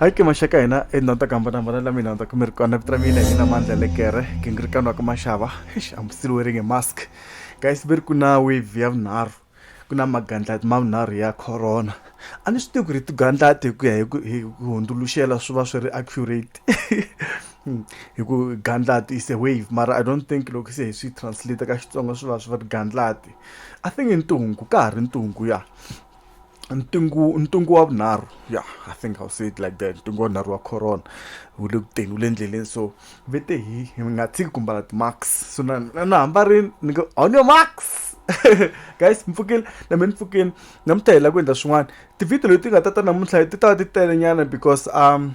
hayi ke maxaka hina endhawini ta ku hambanahambana la mina ta kumeri kona vito ra mina hi mina mandla lekere gingirikani wa ka maxava eish ambusile wearing a mask guys ve ri ku na wave ya vunharhu ku na magandlati ma vunharhu ya corona a ni swi tivi ku ri tigandlati hi ku ya hi ku hi hundzuluxela swi va swi ri accurate hi ku gandlati is a wave mara i don't think loko se hi swi translate ka xitsonga swi va swi va ri gandlati i think i ntungu ka ha ri ntungu ya ntungu ntungu wa vunharhu ya i think i'll say it like that ntungu wa vunharhu wa corona wu le ku teni wu le endleleni so ve te hi hi nga tshiki ku mbala ti-max so na na hamba rini ni ngo on your max guys mpfukile na mina mpfukile namuntlha hi lava ku endla swin'wana tivhidiyo leti nga ta ta namuntlha ti ta va ti telenyana because um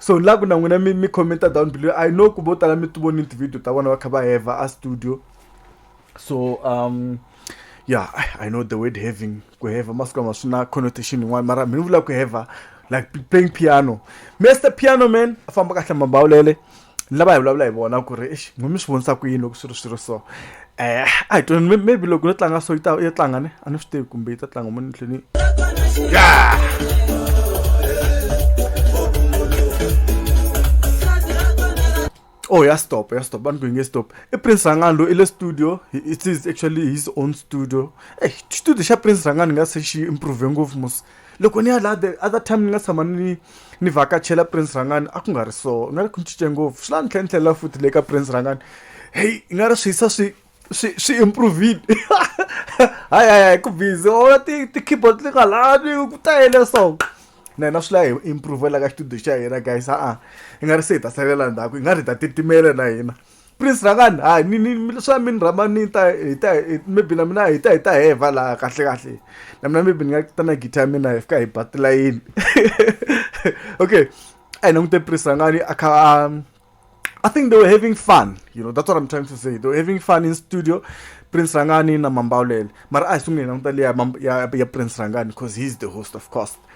so la ku na n'wina mi mi commenta down below i know ku vo tala mi ti vonini ti-video ta vona va kha va heva a studio so um yeah i know the word having ku heva masiku lama swi na connotation yin'wana mara mi ni vula ku heva like playing piano mr piano man a famba kahle mambawulele lava hi vulavula hi vona ku ri exi n'wi mi swi vonisa ku yini loko swi ri swi ri so eh a hi tweni maybe loko yo tlanga so yi ta yi tlanga ne a ni swi tivi kumbe yi ta tlanga muni tlhini ya oh ya stop ya stop vanhu kuinge stop i prince rangani lo i le studio it is actually his own studio ey eh, studio xa prince rangani nga se xi improve ngopfu mos Loko ni ya laha the other time ni nga tshama ni ni vhakachela Prince Rhangani a ku nga ri so ni nga ri ku ni cince ngopfu swi la ni tlhela ni tlhelela futhi le ka Prince Rhangani heyi i nga ri swi hisa swi swi swi improve-ile hayi hayi hayi ku busy or ti ti-keyboard ti nga lavi ku tele so na hina swi la hi improve-ela ka xitudiyo xa hina guys ha-a i nga ri se hi ta salela ndzhaku hi nga ri hi ta titimela na hina. Prince Rhangani hayi ni ni swa mi ni rhamba ni ta hi ta maybe na mina hi ta hi ta hevha laha kahle kahle na mina maybe ni nga ta na guitar ya mina hi fika hi ba tilayini okay a hi langute Prince Rhangani a kha a I think they were having fun you know that's what I'm trying to say they were having fun in studio Prince Rhangani na Mambawulele mara a hi sungule hi languta leya ya ya Prince Rhangani cause he's the host of course.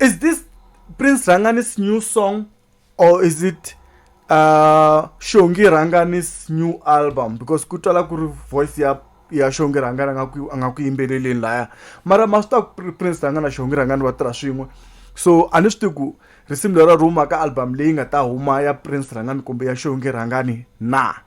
Is this Prince Rhangani's new song or is it uh, Shongi Rhangani's new album? Because kutala kuri voice ya ya Shongi Rhangani anga kuyimbeleleni laya. Mara master Prince Rhangani na Shongi Rhangani va tirha swin'we. So a ni swi tiku risimu lera ruma ka album leyi nga ta huma ya Prince Rhangani kumbe ya Shongi Rhangani na.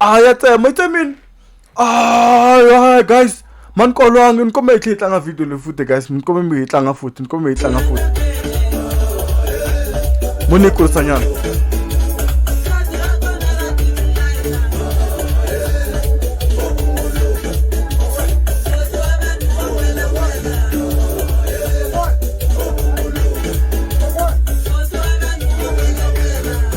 a ya tsema yi tsemini a guys mani kolwangi ni kombela hi tlhe hi tlanga video leyi futhi guys ni kombela mi hi tlanga futhi ni kombela hi tlanga futhi mo ni yi kurisanyana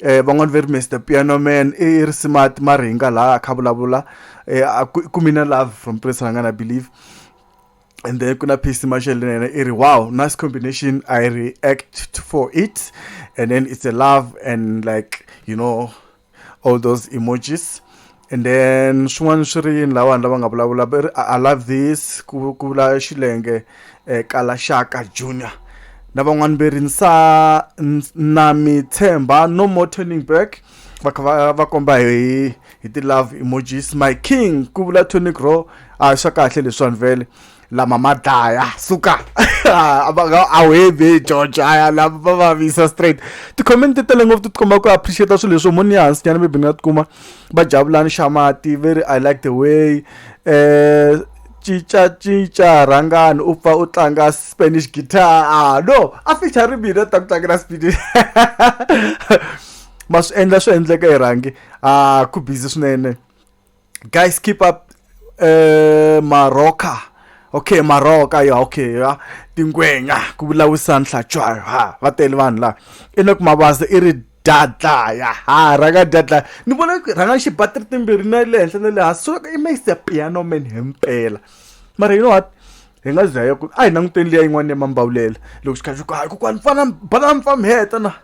eh van'wana ve ri mr piano man i ri smart mara hi nga laha a kha vulavula eh ku mina love from prince ranga na believe and then kuna PC Marshall yena i ri wow nice combination I react for it and then it's a love and like you know all those emojis and then swin'wana swi ri yini la vanhu lava nga vulavula va ri i love this ku ku vula xilenge eh, kala shaka junior na van'wana ve ri nsa na mi tshemba no more turning back va kha va va komba hi hi ti-love emojis my king ku vula tonic ro a swa kahle leswiwani vele lama ma dlaya suka a wu hebi george aya lama va vavisa straight ti-comment tele ngopfu ti tikomba ku appreciate swilo leswo moni ya hansi nyana maybe ni nga tikuma va jabulani xamati ve ri i like the way um cinca cinca rhangani u pfa u tlanga spanish guitar ah no a ficha ri mina ta ku tlangela spanish ma swi endla swi endleka hi rhangi a ku busy swinene guys keep up uh, maroka okay maroka ya okay ya tingwenya ku vulavurisa nhlatshwa ha va tele vanhu laha i na ku mabasa i ri dadla ya ha rhanga dadla ni vona rhanga xibatiri timbirhi na le henhla na le hansi so i makes a piano man himpela mara you know what hi nga zaya ku a hi languteni liya yin'wana ya mambawulela loko xi kha xi ku hayi kokwani fana bana mfamheta na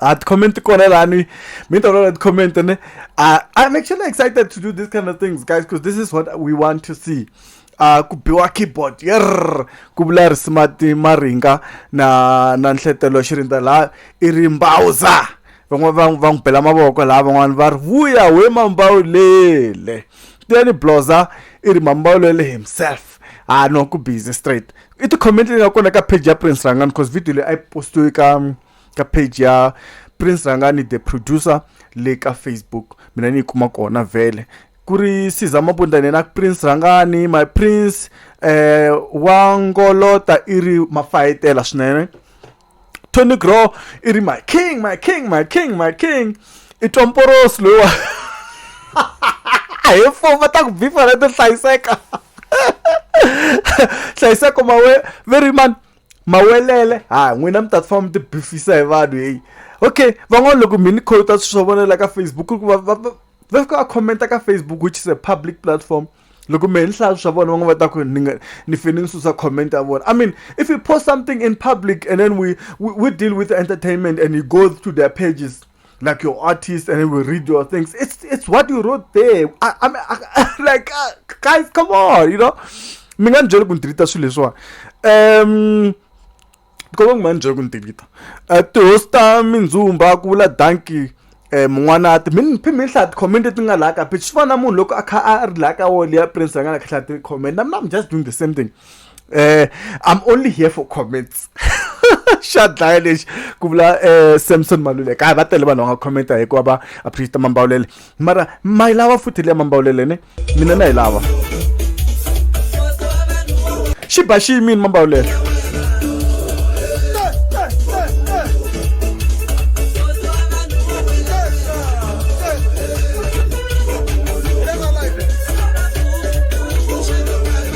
a comment kona lani mi ta vona comment ne uh, i'm actually excited to do these kind of things guys because this is what we want to see uh, ku biwa keyboard yerr ku vula ri smart maringa na na nhletelo xirindza laha i ri mbawuza van'wana va va n'wi bela mavoko laha van'wana va ri vuya we mambawulele tiyani bloza i ri mambawulele himself a ah, no ku busy straight i ti-comment leyi nga kona ka page ya prince rangani because video leyi a yi postiwe ka ka page ya prince rangani the producer le ka facebook mina ni yi kuma kona vhele ku ri siza mabunda nena prince rangani my prince eh, wa ngolota i ri mafayetela swinene tony grow i ri my king my king my king my king i twa mporosi loyiwa hi fuma ta ku bifa na to hlayiseka hlayiseko mawe very man mawelele ha n'wina mi ta famba mi ti bifisa hi vanhu heyi okay van'wana loko mi ni khota swilo swo vonela ka facebook ku va va va fika va khomenta ka facebook which is a public platform loko mehe ni hlaya swa vona va nga va ta ku ni nga ni fane ni susa comment ya vona i mean if you post something in public and then we we, we deal with entertainment and you go to their pages like your artist and then we read your things it's it's what you wrote there I, I mean, I, like uh, guys come on you know mi nga ni byeli ku ni deleta swilo leswiwani um because va ku ma ni byeli ku ni deleta um tihosi ta mindzumba ku vula danki um eh, mun'wanati mi ni phi mi ni hlaya ti-comment leti nga laha ka page swi fana na munhu loko a kha a ri laha ka wall ya prince a nga na kha hlaya ti-comment nam nam just doing the same thing eh i'm only here for comments xa dlaya lexi ku vula eh, samson maluleka hayi va tele vanhu va nga commenta hikuva va appreciate mambawulele mara ma yi lava futhi leya mambawulele ne mina na yi lava xi ba xi yimini mambawulele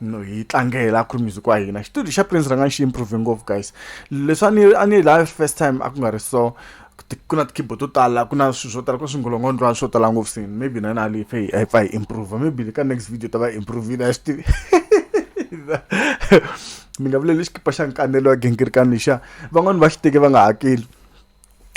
no hi tlangela a ku ri music wa hina xitudio xa prince rhanga xi improve ngopfu guys leswi a ni a ni laha first time a ku nga ri so ku na ti-keyboard to tala ku na swilo swo tala ku na swingolongondlwana swo tala ngopfu sini maybe na yona leyi pfe hi pfa hi improve maybe le ka next video ta va hi improvile a swi tivi mi nga vuleli xikipa xa nkanelo wa gingirikani lexiya van'wani va xi teke va nga hakeli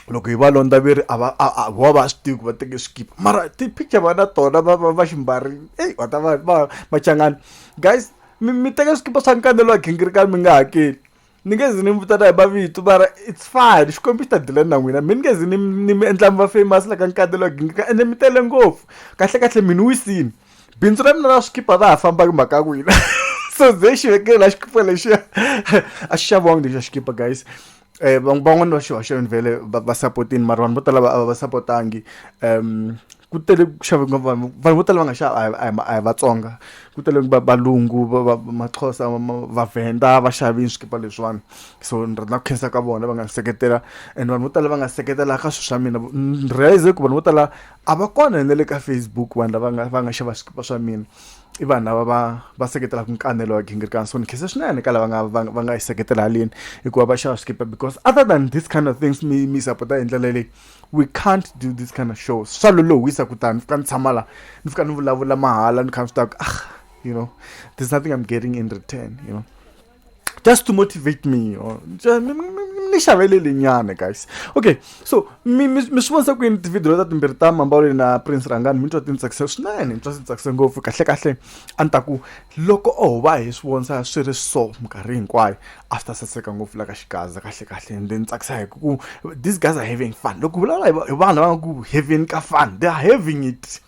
loko hi va londza ve ri a va a a va va swi tivi ku va teke swikipa mara ti-picture va na tona va va va xi mbarile eyi va ta va va machangani guys mi mi teka swikipa swa nkanelo wa gingirikani mi nga hakeli ni nge zi ni mi vitana hi mavito mara it's fine xikwembu xi ta dilani na n'wina mi ni nge zi ni ni mi endla mi va famous la ka nkanelo wa gingirikani ende mi tele ngopfu kahlekahle mi ni wisini bindzu ra mina ra swikipa ra ha famba hi mhaka ya ku yini so ze xi vekela xikipa lexiya a xi xaviwangi lexiya xikipa guys eh van'wana va xihoxweni vhele va sapotini mara vanhu vo tala va va sapotangi um ku tele ku xave ngopfu vanhu vanhu vo tala va nga xava a hi vatsonga ku tele valungu maxhosa vavhenda va xavini swikipa leswiwani so ni rhandza ku khensa ka vona va nga seketela and vanhu vo tala va nga seketela ka swilo swa mina ni realize ku vanhu vo tala a va kona na le ka facebook vanhu lava nga va nga xava swikipa swa mina i vanhu lava va va seketelaka nkanelo wa gingirikana so ni khese swinene ka lava nga va va nga yi seketela haleni hikuva va xava swikipa because other than this kind of things mi mi sapota hi ndlela leyi we can't do this kind of shows swa lolohisa kutani ni fika ni tshama la ni fika ni vulavula mahala ni kha ni swi tiva ku ah you know there's nothing i'm getting in return you know just to motivate me or ni xavele lenyana guys okay so mi mi mi swi vonisa ku yini tivhidiyo ta timbirhi ta mambawuleni na prince rangani mi twa ti ni tsakise swinene ni twa swi tsakise ngopfu kahlekahle a ni ta ku loko o va hi swi vonisa swi ri so minkarhi hinkwayo a swi ta saseka ngopfu la ka xigaza kahlekahle ende ni tsakisa hi ku these guys are having fun loko vulavula hi vanhu lava nga ku having ka fun they are having it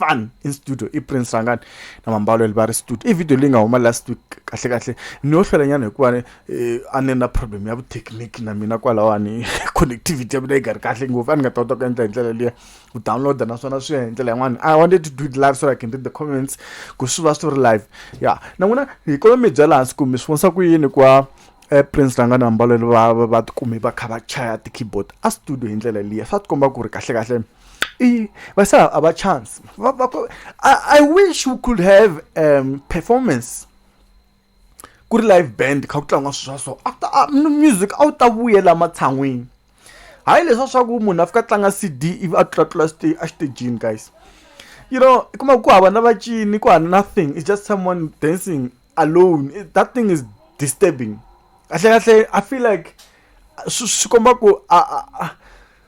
fun in studio i prince rangani na mambalo li va ri studio i video leyi nga huma last week kahle kahle ni yo hlwelanyana hikuva eh, a ni na problem ya vutechnique na mina kwalawani connectivity ya mina yi nga ri kahle ngopfu a ni nga ta kota ku endla hi ndlela liya ku downloada naswona swi ya hi ndlela yin'wana i wanted to do it live so i can read the comments ku swi va swi ri live ya na n'wina hi kolo mi byela hansi ku mi swi vonisa ku yini kuva eh, prince ranga na mbalelo va va tikumi va kha va chaya ti-keyboard a studio hi ndlela liya swa tikomba ku ri kahlekahle I, but sir, our chance. I, I wish we could have um, performance. Good live band kha ku tlanga sweswo so after uh, music a wu ta vuyela matshan'wini hayi leswa swa ku munhu a fika tlanga cd ivi a tlulatlula exitejini guys you know i kuma ku hava na vacini ku hava nothing it's just someone dancing alone it, that thing is disturbing kahle kahle i feel like swi komba ku a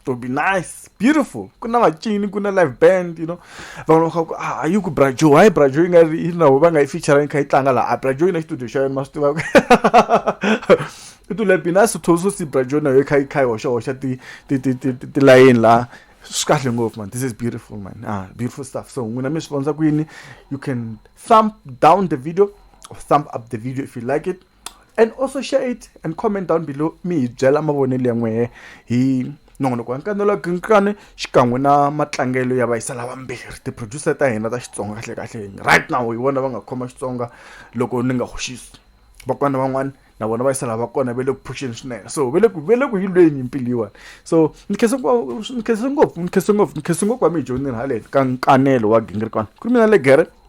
it will be nice beautiful ku na vacini ku na live band you know van'wana va kha ku ah yi ku brajo hayi brajo yi nga ri yi na va nga yi featuring kha yi tlanga laha a brajo yi na xitudio xa yona ma swi tivaka it will be nice to also see brajo na yo kha yi kha yi hoxa hoxa ti ti ti ti ti layeni laha swi kahle ngopfu man this is beautiful man ah beautiful stuff so n'wina mi swi vonisa ku yini you can thump down the video or thump up the video if you like it and also share it and comment down below mi hi byela mavonelo ya n'wehe hi nongonoko wa nkanelo ginkani xikan'we na matlangelo ya vayisa lavambirhi ti-producer ta hina ta xitsonga kahle kahle right now hi vona va nga khoma xitsonga loko ni nga hoxisi vakwana van'wana na vona vayisa lava kona va le ku phuxeni swinene so va le ku va le ku yilweni mpilo yiwani so ni khense ni khense ngopfu ni khense ngopfu ni khense ngopfu wa mi hi dyondzini haleni ka nkanelo wa gingirikwana ku ri mina legere